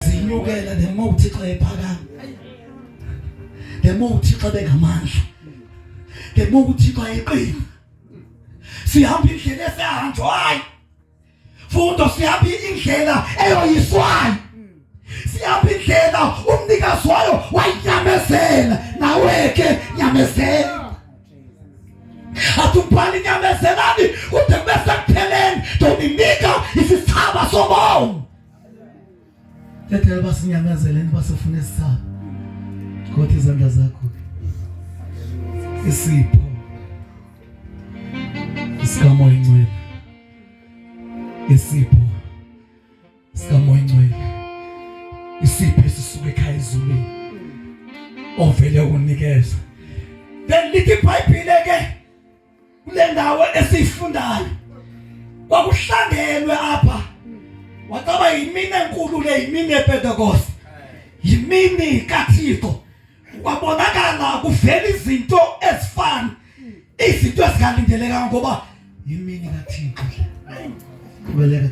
zinyukela the more uThixo ephakama the more uThixo bengamandla the more uThixo ayeqina sihamba indlela esehanjwayo fundo sihamba indlela eyoyiswayo sihamba indlela umnikazi wayo wayinyamezela naweke nyamezela atubhali nyamezelani kude kube sekupheleni ndoninika isithaba sobomi Ndicela uba sinyamezele uba sifune isisapho. Gotha izandla zakho. Isipho. Isikamoya ingcwele. Isipho. Isikamoya ingcwele. Isipho esisuka ekhaya ezulwini. Ovele unikeza. Then lithi iBhayibhile ke kule ndawo esiyifundayo kwakuhlangelwe apha wacaba yimini enkulu le yimini yepentekoste yimini kathixo kwabonakala kuvela izinto ezifana izinto ezingalindelekanga ngoba yimini kathixo kubeleke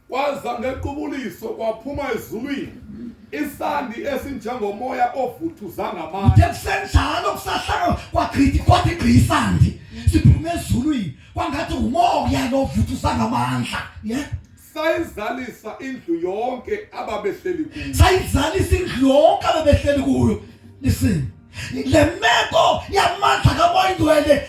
Kwaza ngequbuliso kwaphuma ezulwini isandi esinjengomoya ovuthuza ngamandla. Kuthe kusenjalo kusahlaka kwagqitha kwathi gqi isandi siphume ezulwini kwangathi ngumoya lo ovuthuza ngamandla. Yeah. Sayizalisa indlu yonke ababehleli kuyo. Sayizalisa indlu yonke ababehleli kuyo. Listen. Le meko yamandla kamoya ingcwele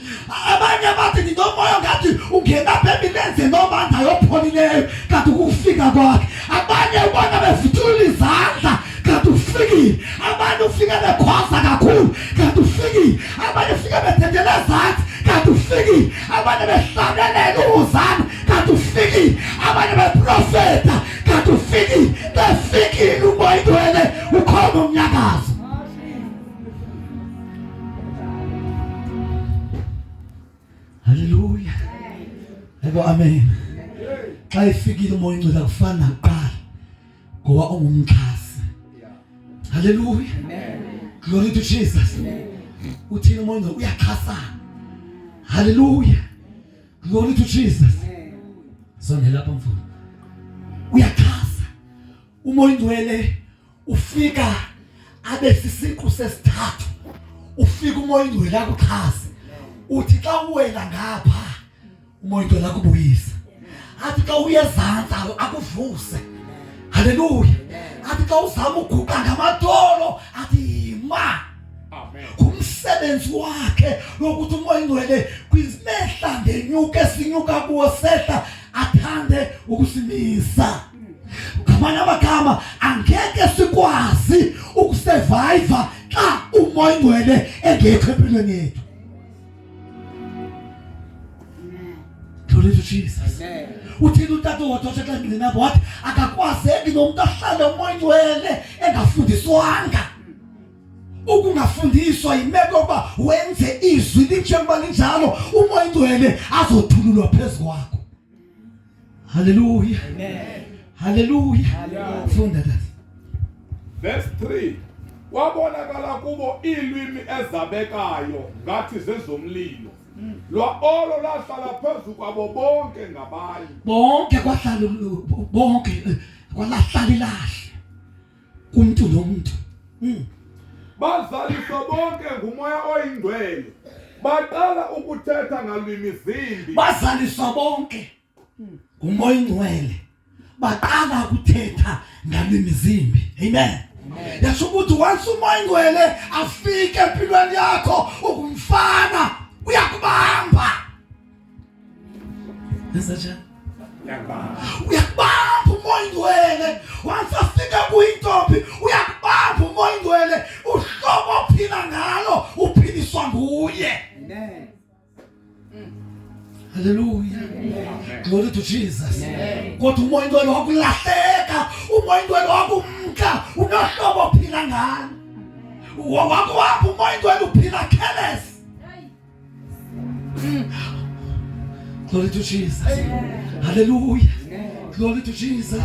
abanye bathi ndinomoya ngathi ungena apha emilenze nomandla yopholileyo kanti ukufika kwakhe abanye ubona bevutulula izandla kanti ufikile abanye ufike bekhwaza kakhulu kanti ufikile abanye ufike bethethele ezantsi kanti ufikile abanye behlabelela uwuzana kanti ufikile abanye beprofeta kanti ufikile befikile umoya ingcwele ukhona umnyakazo Haleluya. Ebo amen. Xa ifikile umoya incwadi akufani nakuqala ngoba ungumxhasi. Haleluya. Glory to Jesus. Uthini umoya incwadi uyaxhasana. Haleluya. Glory to Jesus. Sonela lapha mfowethu. Uyaxhasa. Umoya ingcwele ufika abe sisiqu sesithathu ufika umoya ingcwele akuxhase uthi xa uwela ngapha umoya ingcwele akubuyise athi xa uyezantsa akuvuse haleluya athi xa uzama uguqa ngamadolo athi yima ngumsebenzi wakhe lokuthi umoya ingcwele kwizimehla ngenyuka esinyuka kuwo sehla athande ukusimisa ngamanye amagama angeke sikwazi ukusurvive xa umoya ingcwele engekho empilweni yethu Glory to Jesus. Uthini utata wadotsha xa ngcinabo wathi akakwazeki nomntu ahlale umoya ingcwele engafundiswanga ukungafundiswa yimeko yokuba wenze izwi linjengoba linjalo umoya ingcwele azothululwa phezu kwakho Hallelujah. Amen. Hallelujah. Hallelujah. Funda that. Verse 3. Kwabonakala kubo iilwimi ezabekayo ngathi zezomlilo. Hmm. Lwa olo lahlala phezu kwabo bonke ngabanye. Bonke kwahlala bonke eh, kwalahlala ilahle. kumntu nomntu mm. bazaliswa bonke ngumoya oyingcwele baqala ukuthetha ngalwimi zimbi bazaliswa bonke mm. ngumoya oyingcwele baqala ukuthetha ngalwimi zimbi amen yasho ukuthi once umoya ingcwele afike empilweni yakho ukumfana uyakubamba Nasachan. Uyakubamba umoya ingcwele. Wasafika kuyintombi. Uyakubamba umoya ingcwele. Uhlobo ophila ngalo uphiliswa nguye. Amen. Hallelujah. Amen. Glory to Jesus. Kodwa umoya ingcwele wakulahleka. Umoya ingcwele wakumka. Unohlobo ophila ngalo. Wakwapha umoya ingcwele uphila careless. Glory to Jesus. Hallelujah. Glory to Jesus.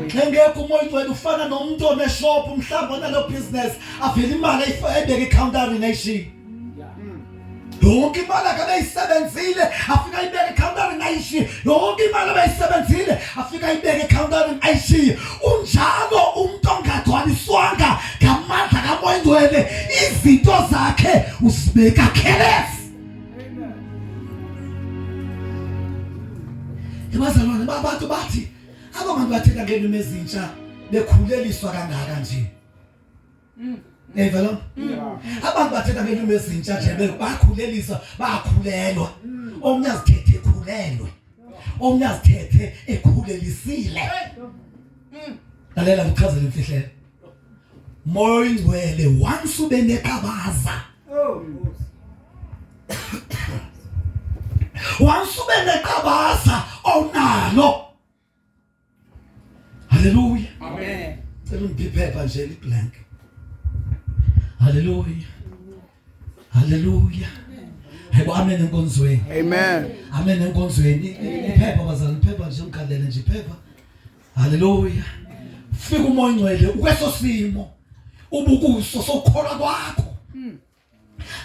Engekho umoya ugcwele ufana nomuntu oneshop mhlawumbe onalo business avele imali ebeke ecountering ayishiye. Yonke imali akabeyisebenzile afika ibeke ecountering ayishiye. Yonke imali abeyisebenzile afika ayibeke ekhawuntani ayishiye unjalo umntu ongagcwaliswanga ngamandla kamoya ingcwele izinto zakhe usibeka khelesi ebazalwane babantu bathi aba bantu bathetha ngeelimi ezintsha bekhuleliswa kangaka nje Mm. Yeva lo? Mm. Abantu bathetha ngelimi ezintsha nje bebakhulelisa bakhulelwa. Mm. Omnye azithethe ekhulelwe. Omnye azithethe ekhulelisile. Lalela ngichazele imfihlelo. Moya oyingcwele once ube neqabaza. Oh. Once ube neqabaza onalo. Haleluya. Amen. Cela umphiphepa nje liblank. Haleluya. Haleluya. Hebo amen enkonzweni. Amen. Amen enkonzweni. Iphepha bazali, iphepha nje umkhalele nje iphepha. Haleluya. Fika umoya ngcwele ukweso simo ubukuso sokukholwa kwakho.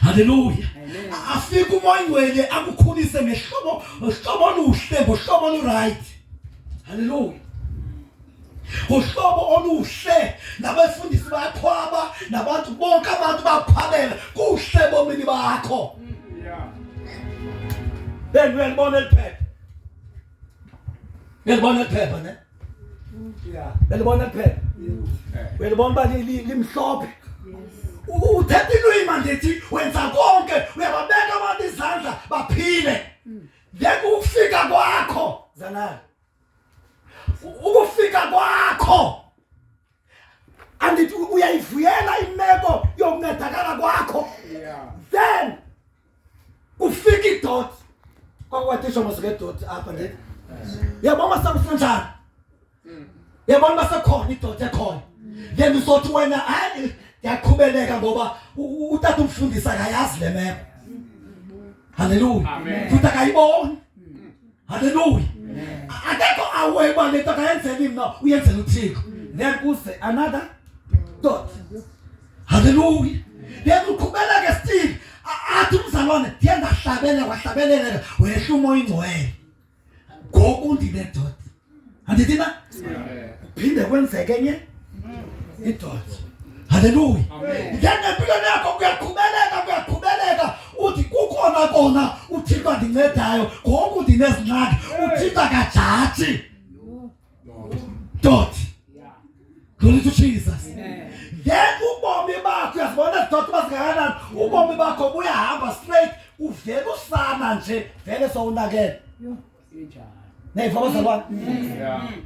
Haleluya. Afike umoya ingcwele akukhulise ngehlobo uhlobo oluhle ngohlobo oluright. Haleluya. Uhlobo oluhle nabefundisi bayakhwaba nabantu bonke abantu bakhwabela kuhle bomini bakho. Yeah. Then uyalibona eliphephe. uyalibona liphepha ne uyalibona liphepha uyalibona uba limhlophe uthetha ilwima ndithi wenza konke uyababeka abantu izandla baphile ngeke ukufika kwakho zanani ukufika kwakho andithi uyayivuyela imeko yokuncedakala kwakho then kufika idot kwakwathisha masuke idot apha ndithi yabona masakusenjani mm. yabona masekhona idot ekhona then usothi wena hayi ndiyaqhubeleka ngoba utata umfundisi akayazi le meko halleluya futhi akayiboni Haleluya. Akekho awe uba le nto akayenzeli mna uyenzela uThixo. Then kuse another thought. Haleluya. Then uqhubeleke still athi umzalwane ndiye ndahlabela wahlabelela wehla umoya ingcwele. Ngoku ndine thought. andithi na kuphinde kwenzeke enye idoda haleluya ngena empilweni yakho kuyaqhubeleka kuyaqhubeleka uthi kukhona kona uthixo andincedayo ngoku ndinezingxaki uthixo akajaji doti glory to jesus ngeke ubomi bakho uyazibona doti bazingakanani ubomi bakho buyahamba straight uvele usana nje vele sowunakele nayiva abazalwane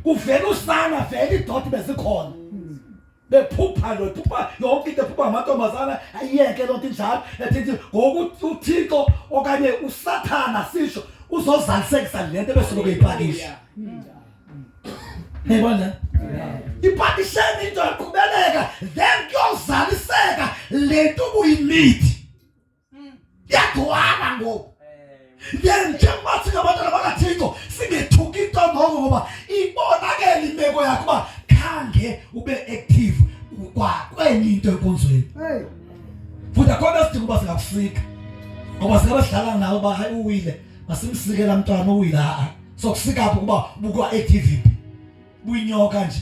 kuvela usana vele idoda bezikhona bephupha lo phupha yonke into ephupha ngamantombazana ayiyeke loo nto injalo ethi ngoku uthixo okanye usathana sisho uzozalisekisa le nto ebesuke kuyipakisha niyibona ipakisheni into yaqhubeleka then kuyozaliseka le nto ubuyimithi mm. yagcwala ngoku njengoba singabantwana bakathixo singethuki into ngoko ngoba ibonakele imeko yakho uba khange ube active kwenye into enkonzweni futhi akho nto sidinga uba singakusika ngoba singaba sidlala nawe uba hayi uwile masimsikela mntwana uwile a-a sokusika phi ukuba bukwa-activity buyinyoka nje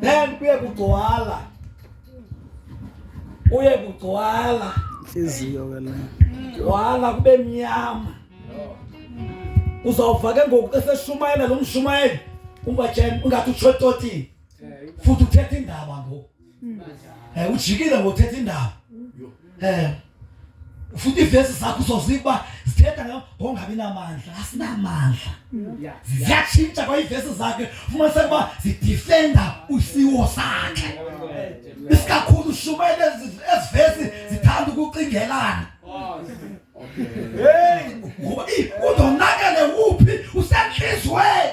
then kuye kugcwala kuye kugcwala intliziyo ke le gcwala kube mnyama uzawuva ke ngoku xa seshumayela lo mshumayeli ungathi utshototini futhi uthetha indaba ngoku mm. eh, ujikile ngothetha indaba eh futhi ivesi zakho uzoziba zithetha ngongabi namandla asinamandla ziyatshintsha kwayivesi zakhe fumanise ukuba zidifenda usiwo sakhe isikakhulu shumele ezivesi zithanda ukucingelana ngoba udonakele uphi usentliziyweni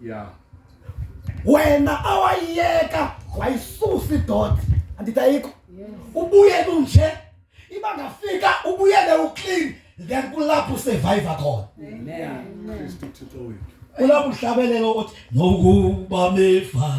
yeah wena awayiyeka wayisusa idot andidayiko ubuyele unje iba ngafika ubuyele uclean then kulapho survivor khona amen Kristu Thixo wethu kulapho uhlabelelo othi nokuba mefa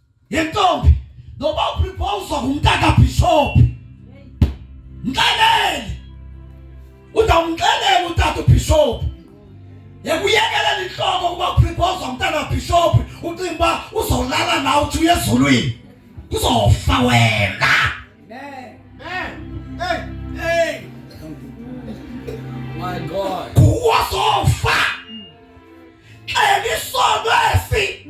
yentombi noba upripowuzwa ngumntaka bhishophi mxelele uzawumxelela utata ubhishophi yekuyekelela intloko ukuba upripowuzwa ngumntana bhishophi ucinga uba uzolala nawe uthi uye ezulwini kuzofa wena kuwa zofa xela isono esi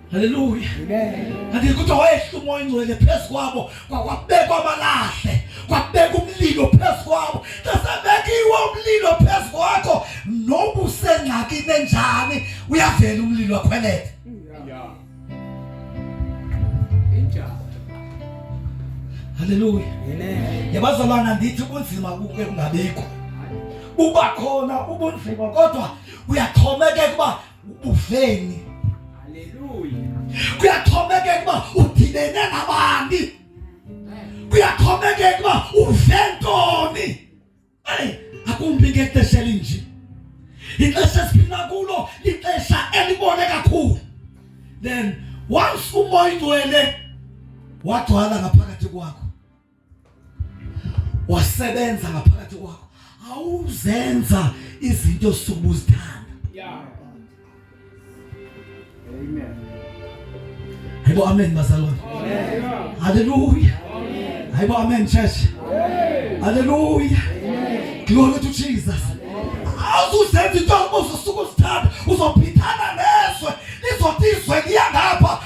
Haleluya. Amen. Kuthi wayehla umoya ingcwele phezu kwabo kwakwabekwa amalahle kwabeka umlilo phezu kwabo kasebekiwe umlilo phezu kwakho noba usengxakini enjani uyavela umlilo akhwelele Haleluya. Amen. Yabazalwana ndithi ubunzima kuke kungabikho. Uba khona ubunzima kodwa uyaxhomekeka uba ubuveni. Haleluya. Kuyaxhomekeka uba udibene nabani. Kuyaxhomekeka uba uve ntoni. Eyi, akumbi ngexesha elinje. Ixesha esiphila kulo lixesha elibone kakhulu. Then once umoya ingcwele wagcwala ngaphakathi kwakho wasebenza ngaphakathi kwakho awuzenza izinto osuku uzithanda yeah amen hayibo amen bazalwane haleluya hayibo amen church haleluya glory to jesus awuzenza into osuku uzithanda uzophithana nezwe lizothi izwe liyangapha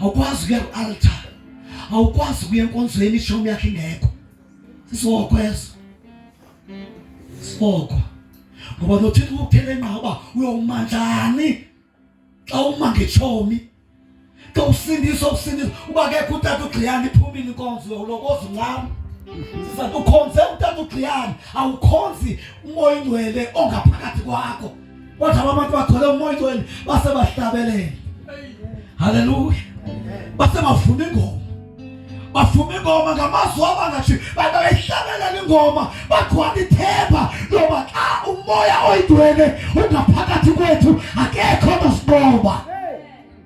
awukwazi ukuya ku-altar awukwazi ukuya enkonzweni ishomi yakhe ingekho sisoko eso sisoko ngoba nothixo ukuthele nqa uba uyoma njani xa uma ngeshomi xa usindisa ukusindisa uba kekho utata ugxiyana iphumile inkonzo uyawulokoza uncama sisathi ukhonze utata ugxiyana awukhonzi umoya ingcwele ongaphakathi kwakho Wathi abantu bathole umoya oyingcwele base bahlabelele. Hallelujah. Base bavuma ingoma. bafuma ingoma ngamazwi abangathi bantu bayihlabelela ingoma bagcwala ithemba loba xa umoya oyidwele ungaphakathi kwethu akekho onosiqoba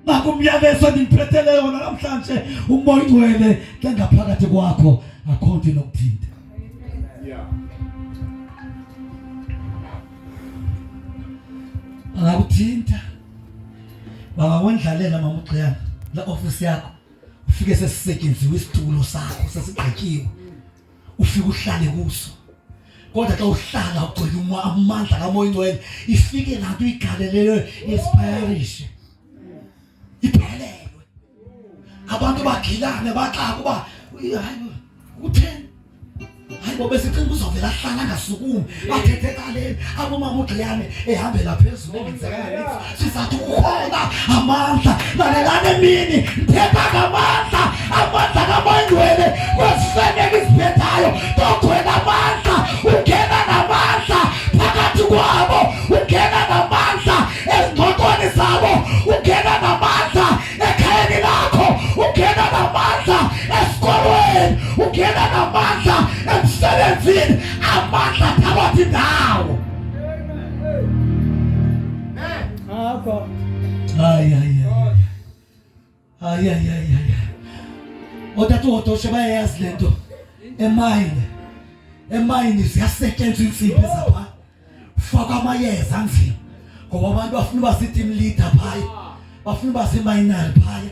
Ngakho umyalezo endiphethe leyo namhlanje umoya ungcwele ke ngaphakathi kwakho akho nto inokuthinta. Yeah. Angakuthinta. Bangawendlalela mama uGciyana la office yakho. Ufike sesisetyenziwe isitulo sakho sesigqityiwe. ufike uhlale kuso kodwa xa uhlala ugcwele amandla kamoya ingcwele ifike laa nto igalelelwe yesiphayarishe iphelelwe abantu bagilane baxaka uba hayi utheni hayi bo besicinga uzovela ahlala angasukumi bathethe ekaleni abomama ugilane ehambela phezulu siza kukhona amandla lalelani emini ndithetha ngamandla amandla kamangcwele kwezifeneke iziphethayo togcwela amandla ungena namandla phakathi kwabo ungena namandla ezingxoxweni zabo ungena namandla ekhayeni lakho ungena namandla esikolweni ungena namandla emsebenzini amandla phakathi ndawo Otata uthoshe bayayazi le nto emayini emayini ziyasetyenzwa iintsimbi zapha faka amayeza anzima ngoba abantu bafuna uba ziitim leader phaya bafuna uba ziimayinari phaya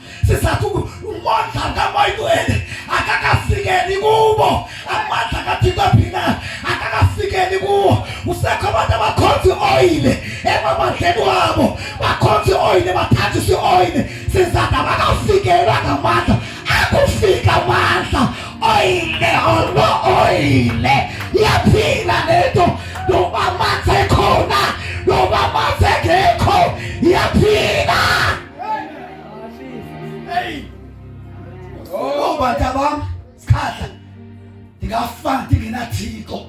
sisatuku umonza kamoyitwele akakafikeli kubo amandla kathixo phina akakafikeli kuwo usekho abantu abakhonza ioyile emamandleni wabo bakhonza ioyile bathathisa ioyile sizathu abakafikelwa ngamandla akufika amandla oyile olo oyile yaphila lento noba amanzi ekhona noba amanzi engekho yaphila Oh, bantu abami sikhahle ndingafana ndingenathixo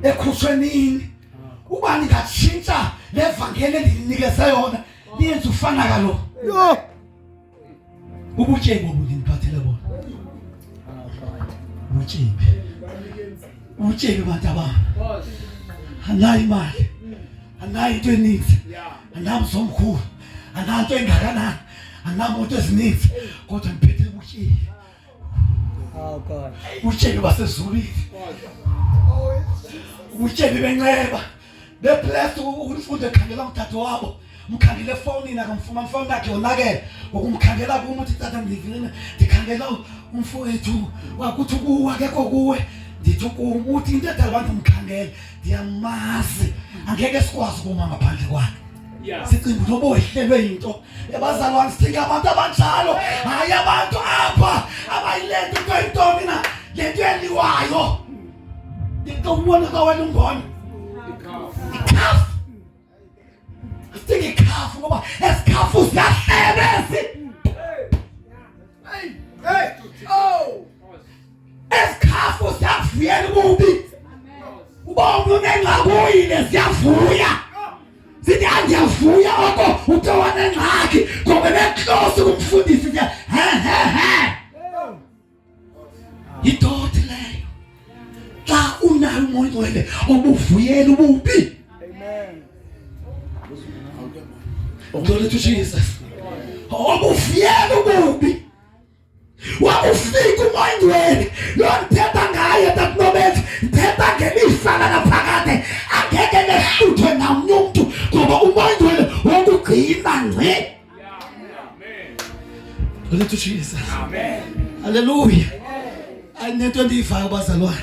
ekhutshwe nini uba ndingatshintsha le vangeli endinikeze yona niyenze ufana kalo ubutyebi obu ndindiphathele bona ubutyebi ubutyebi bantu abami anayo imali anayo into eninzi anamzi omkhulu ananto engakanani andinamoto ezininzi kodwa ndiphethe ubutyebi oh, ubutyebi basezulwini ubutyebi benceba beblessed ukunifunda ekhangela umthatho wabo mkhangele efowunini akamfumani ifowuni yakhe yonakele ngokumkhangela kum uthi tata ndivile ndikhangela umfowethu wakuthi kuwe akekho kuwe ndithi kum uthi into edala abantu mkhangele ndiyamazi angeke sikwazi ukuma ngaphandle kwakhe sicimba noba wehlelwe yinto yabazalwane sidinga abantu abanjalo hayi abantu apha abayilento into yintoni na le nto yeliwayo into umbona kawena umbona ikhafu sidinga ikhafu ngoba esikhafu siyahlebezi Ezikhafu ziyakuvuyela ububi. Ubonga unengxakuyile ziyavuya. Sithi andiyavuya oko uthe wanengxaki ngoba beklosi kumfundisi ke. He he he. Yidoti leyo. Xa unayo umoya ngcwele obuvuyela ububi. Amen. Glory to Jesus. Obuvuyela ububi. wakufika umoyingcwele lo ndithetha ngaye takunobenza ndithetha ngelifa lanaphakade angeke nehluthwe namnye umntu ngoba umoyingcwele wokugcina ngce Hallelujah. Hallelujah. Ayinento endiyivayo bazalwane.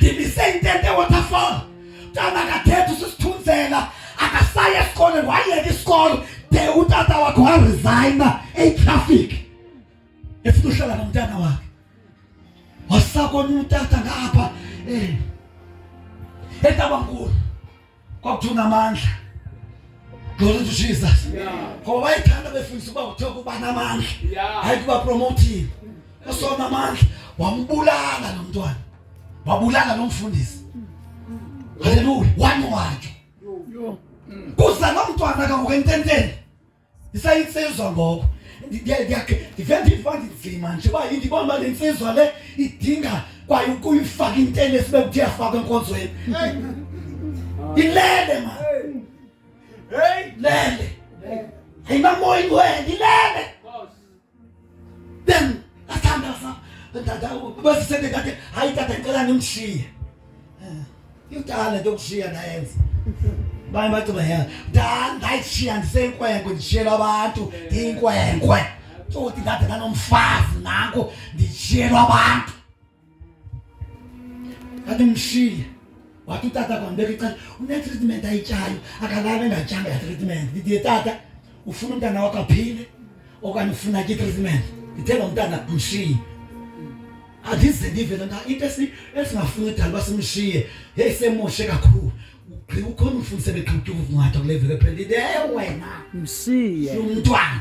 ndibise intente waterfall mntana akathethi usisithunzela akasaye esikolweni wayeka isikolo de utata wakhe waresigna eyitraffic efuna uhlala nomntana wakhe wasakona utata ngapha um eh, etabankulu kwakuthiwa unamandla glory to jesus ngoba bayithanda befundisa uba kuthiwa kuba namandla hayi kuba promoting usona amandla wambulala lo mntwana wabulala lo mfundisi haleluya wani watsho kuza lo mntwana kangoku ententeni Isayinsizwa ngoku ndivele ndiva ndinzima nje uba yindibona uba le nsizwa le idinga kwaye ukuyifaka intene sibe kuthi yafakwa enkonzweni ilele ma lele ayinamoyi ngwena ilele Then, that's time that's not. Basi sende kake haitata ngicela nimshiye. Yudala ndokushiya nayenza. Baye bathi bayenza. Dala ndayishiya ndisenkwenkwe ndishiyela abantu inkwenkwe. Tsothi ndade nanomfazi nanko ndishiyelwa abantu. Kade mshiye. Wathi utata kwambeka icala une-treatment ayityayo akalala engatyanga yatreatment ndiye tata ufuna umntana wakho aphile okanye ufuna ke treatment ndithe lo mntana mshiye andize ndive lona into esingafuni udalwa simshiye heyi semoshe kakhulu ugqiba ukhona umfundise beqhutyuva ukungatha kule veki ephela ewe wena mshiye umntwana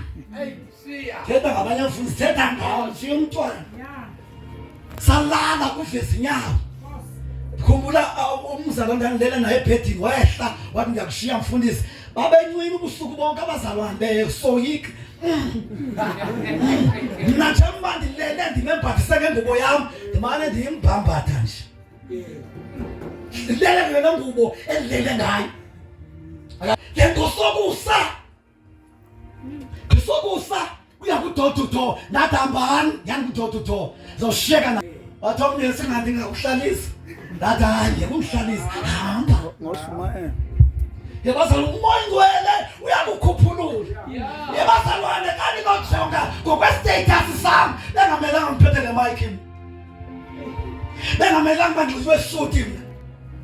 thetha ngabanye abafundi sithetha ngawo siye umntwana salala kuveza inyawo khumbula uh, umzalwane ndandilele naye ebhedini wehla wathi ndiyakushiya mfundisi babencwini ubusuku bonke abazalwane besoyika mna njengoba ndilele ndimembathise ngengubo yam ndimane ndiyimbhambatha nje ndilele ngena ngubo endilele ngayo le nto sokusa Kusokusa kuya kudoor to door ndathi hambani yani kudoor to door zoshiyeka na wathi omnye singathi ngakuhlalisa ndathi hayi ngekuhlalisa hamba ngoshumayela yebazala umoya ngcwele uyakukhuphulula yebazalwane kani nojonga ngokwestatus sam bengamelanga ngiphethe le mike mna bengamelanga uba ndinxibe suti mna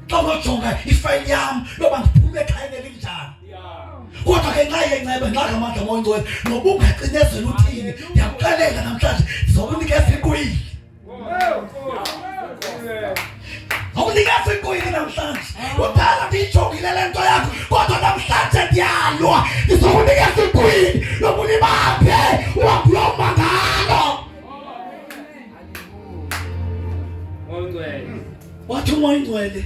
xa unojonga ifayili yam loba ndiphume ekhayeni elinjani kodwa ke nxa yenceba nxa ngamandla moyingcwele noba ungacinezela uthini ndiyakuxelela namhlanje ndizokunikeza ikwili awunikeza ikwili namhlanje uthanda ndiyijongile le nto yakho kodwa namhlanje ndiyalwa ndizokunikeza ikwili yoba ulibambe uhambulouma ngalo wathi umoyingcwele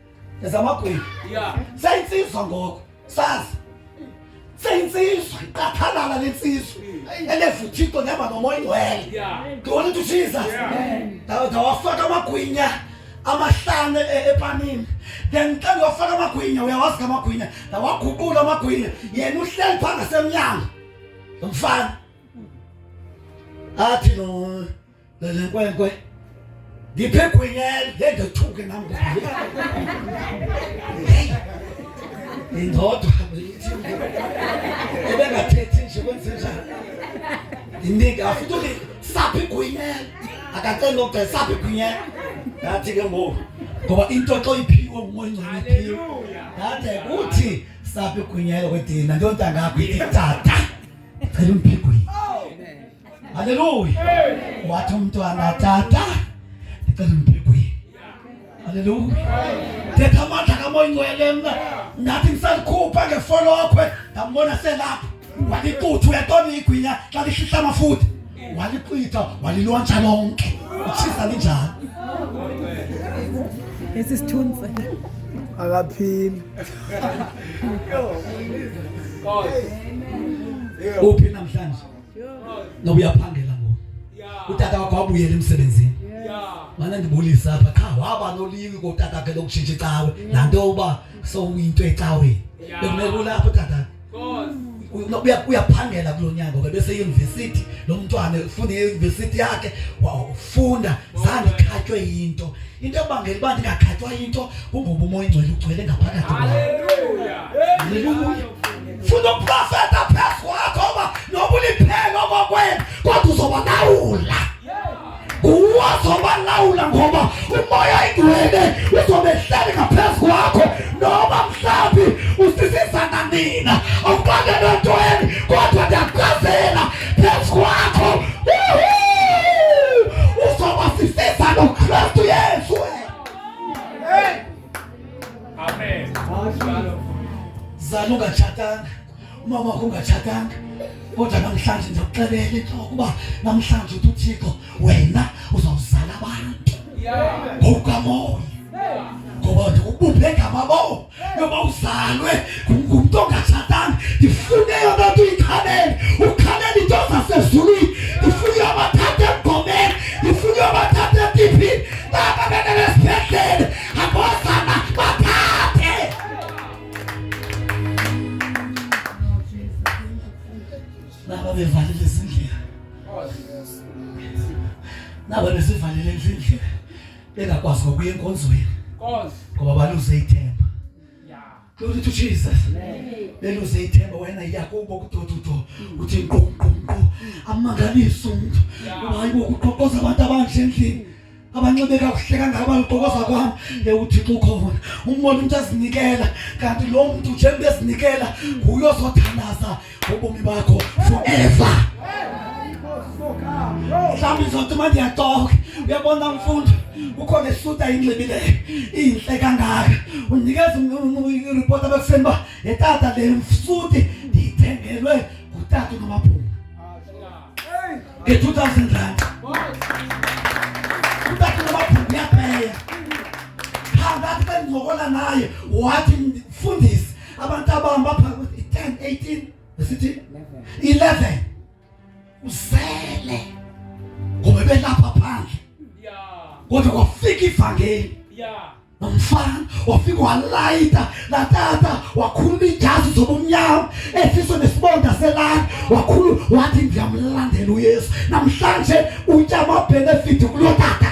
ezamagwini yeah sayinsizwa ngoko sazi seyintsizwa iqathalala lensizwa elevuthixo nehamba nomoya ingcwele ndibona into jesus ndawafaka amagwinya amahlane e-, epanini then xa ndiwafaka amagwinya uyawazi ka amagwinya ndawaguqula amagwinya yena uhleli phaa ngasemnyango mfana athi no Lelenkwenkwe. Ngiphe gwinyela ngendethuke nam. Hey. Indodwa ithi ebengathethi nje kwenze njani. Ndinika futhi uthi saphi gwinyela. Akacela nokugcela saphi gwinyela. Ngathi ke ngoku ngoba into xa uyiphiwe ngumoya ongcoliphile. Ngathi kuthi saphi gwinyela kwedina ndontangakho ithi tata. Cela umphiwe Haleluya. Wathi umntu angatata ndicela umbhekwi. Haleluya. Thetha amandla kamoya ingcwele mna ndathi ngisalikhupha ngefolokhwe ndambona selapha waliqutha uyatona igwinya xa lihlihla amafutha waliqitha walilontsha lonke utshisa linjalo esi sithunzi akaphili uphi namhlanje No uyaphangela ngoku. Utata wakho wabuyela emsebenzini. Mana ndibulisa apha qha waba noliwi kotata ke lokutshintsha icawe. Nanto uba sowuyinto ecaweni. Bekumele kulapho tata. uyaphangela kulo nyanga ngoba beseyunivesithi lo mntwana ufunda eyunivesithi yakhe wafunda zange ikhatywe yinto into ebangela uba ndingakhatywa yinto kungoba umoya ingcwele ugcwele ngaphakathi haleluya funa uprofeta phezu kwakho uba noba uliphelo kokwenu kodwa uzoba nawula nguwo azoba lawula ngoba umoya ingcwele uzobe hleli ngaphezu kwakho noba mhlawumbi usisiza nanina awuqale loo nto eni kodwa ndiyaqazela Yesu wako usowasisisa no Kristu Yesu. Amen. Zaluka chatanga umama wakho ungatshatanga kodwa namhlanje ndiyakuxelela intloko uba namhlanje uthi uthixo wena uzawuzala abantu ngokukamoya ngoba ndikubuphe ngamaboa yoba uzalwe ngumntu ongatshatanga ndifune yona nto uyikhabele ukhabela into zasezulwini ndifuna uyobathatha emgomeni ndifuna uyobathatha etiphini nabanene nesibhedlele angozana bathathe naba bevalile ezindlela naba besivalile ezindlela bengakwazi ngokuya enkonzweni ngoba baluze ithemba glory to jesus beluze ithemba wena yakubo kudodudo mm. uthi nququnqu amangalisa umuntu ngoba hayibo kuqoqoza abantu abanje endlini abanxibe kakuhle kangaka baluqokoza kwami yewuthixo ukhona umbona umuntu azinikela kanti lo muntu njengoba ezinikela nguye ozothandaza ubomi bakho forever mhlawumbi zonke manje yatoke uyabona mfundi ukhona esuta inxibile inhle kangaka unikeza iripoti abakuseni uba le tata le msuti ndiyithengelwe ngutata unomaphunga nge-two thousand rand utata unomaphunga uyapeya phakathi bendizokola naye wathi mfundisi abantu abahamba pha 10 18 besithi 11 usele ngoba belapha phandle kodwa kwafika ivangeli nomfana wafika walayita latata wakhuluma ijazi zobumnyama esiso nesibonda selani wakhulu wathi ndiyamlandela uyesu namhlanje utya amabhenefidi kuloo tata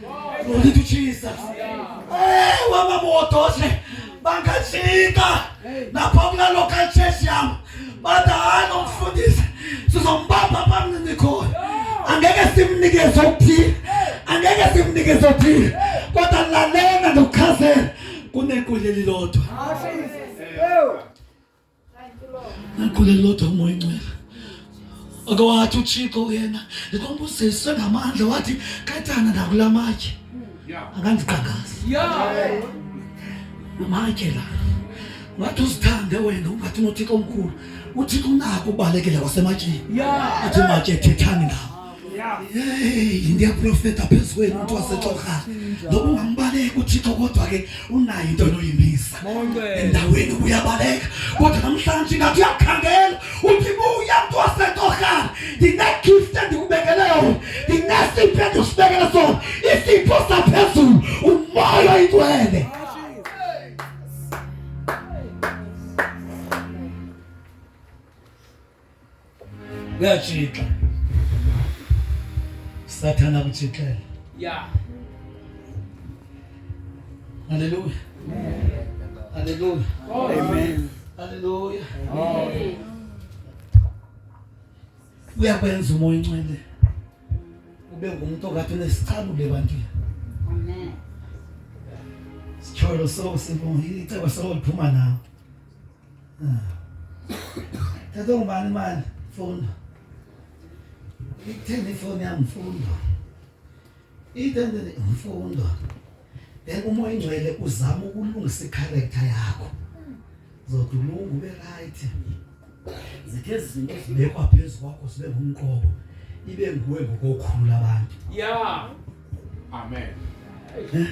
Glory to Jesus. Eh, wama muotoshe bangashika na pamla local church yam bada ano mfundisi sizombamba pamna niko angeke simnike zothi angeke simnike zothi kodwa lalela ndokhazela kunekule lilodwa nakhulelo lodwa umoya ingcwele ake wathi uthixo yena ndikwambuziswe ngamandla wathi katana ndakula matye akandiqangazi amatye la ngathi uzithande wena ungathi unothixo omkhulu uthixo unako ubalekela wasematyeni athi matye thethani nawo Hey, ndiya profeta phezu kwenu mntu wasetorhana noba ungambaleki uthixo kodwa ke unayo into enoyimisa endaweni ubuyabaleka kodwa namhlanje ingathi uyakhangela uthi buya mntu wasetorhana ndinegift endikubekele yona ndinesipho endisibekele sona isipho saphezulu umoya oyingcwele kuyatshixa sathana kutshixela ya haleluya haleluya amen haleluya uyakwenza umoya incwele ube ngumuntu okade unesicabule ebantwini amen sithole so sibonga icebo solo liphuma nawe Thatha ungubani imali mfundo ithenge ifoni yam mfundo ithenge mfundo then umoya ingcwele uzama ukulungisa ikharektha yakho zothi ulungu ube rayithi zithe zinto zibekwa phezu kwakho zibe ngumqobo ibe nguwe ngokokhulu abantu ya amen eh?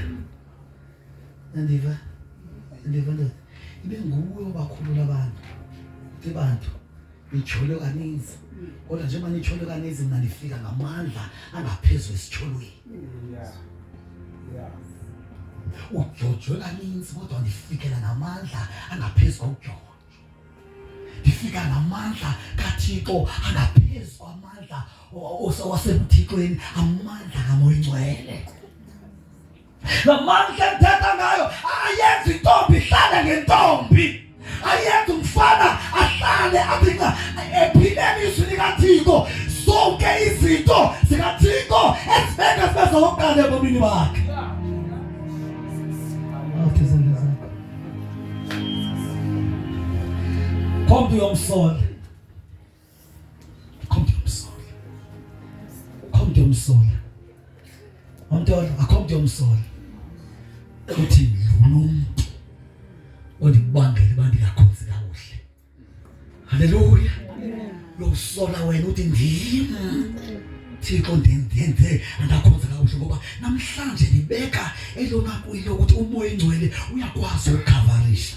andiva andiva ndoda ibe nguwe obakhulula abantu ke bantu nitshole kaninzi kodwa njengoba nitshole kaninzi mna ndifika ngamandla angaphezulu esitsholweni udyojwe kaninzi kodwa ndifikela ngamandla angaphezu kokudyojwa ndifika ngamandla kathixo angaphezu kwamandla wasebuthixweni amandla kamoyingcwele Namandla ndithetha ngayo ayenzi intombi ihlale ngentombi, ayenzi umfana ahlale abinga ephileni izwi likaThixo. Zonke izinto zikaThixo ezibeka zibe zokuqala ebomini bakhe. Kommt ihr umsonst. Akho mntu yomsola. Akho mntu yomsola. Wamthola, akho mntu yomsola. Uthi lo mntu ondibangele uba ndingakhonzi kakuhle. Haleluya. Lo usola wena uthi ndim. Thixo ndenze andakhonza kakuhle ngoba namhlanje ndibeka elona kuyo ukuthi umoya engcwele uyakwazi ukukhavarisha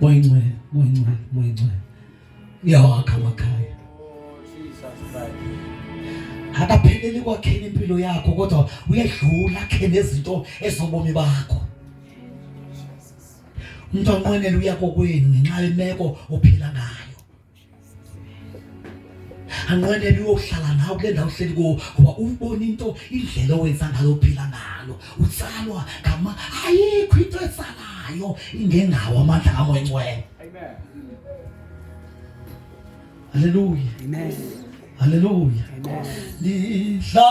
Moya Ngcwele, Moya Ngcwele, Moya Ngcwele uyawakha amakhaya. Akapheleli kwakheni impilo yakho kodwa uyedlula akhene izinto ezobomi bakho. Umntwana onqwenela uya kokwenu ngenxa yemeko ophila ngayo. anqwenele uyohlala nawe kule ndawo uhleli kuwo ngoba ubona into indlela owenza ngalo uphila ngalo utsalwa ngama ayikho into etsalayo ingengawo amandla kamoyingcwele haleluya haleluya lidla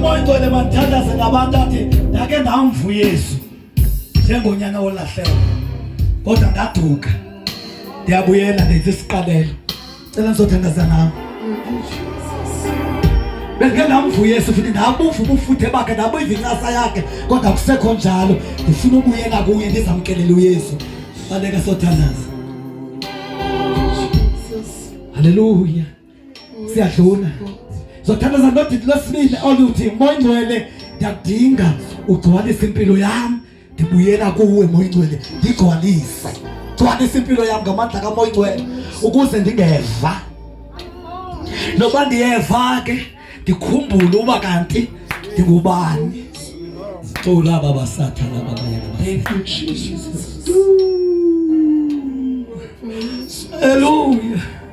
umoya ongcwele mandithandaze ngabantu athi ndake ndamva uyesu njengonyana wolahleko kodwa ndaduka ndiyabuyela ndenza isiqalelo cela ndizothandaza nam bendike ndamva uyesu futhi ndabuva ubufuthe bakhe ndabuva incasa yakhe kodwa kusekho njalo ndifuna ubuyela kuye ndizamkelele uyesu baleke sothandaza halleluya siyadluna zothandaza ndodidi lwesibini oluthi moya ingcwele ndiyakudinga ugcwalise impilo yam ndibuyela kuwe moya ingcwele ndigcwalise gcwalisa impilo yam ngamandla kamoya ingcwele ukuze ndingeva noba ndiyeva ke ndikhumbule uba kanti ndingubani cula baba sathana babayana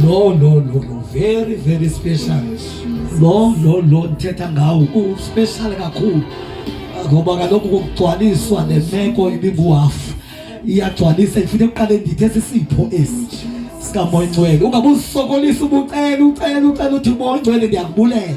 No no no no very very special. No no no ndithetha ngawo ku special kakhulu. Ngoba kaloku kugcwaliswa nemeko ibinguhafu. Iyagcwalisa ifuna eqale ndithe sisipho esi sikamoya ingcwele. Ungabuzisokolisa ubucela ucela ucela uthi moya ingcwele ndiyakubulela.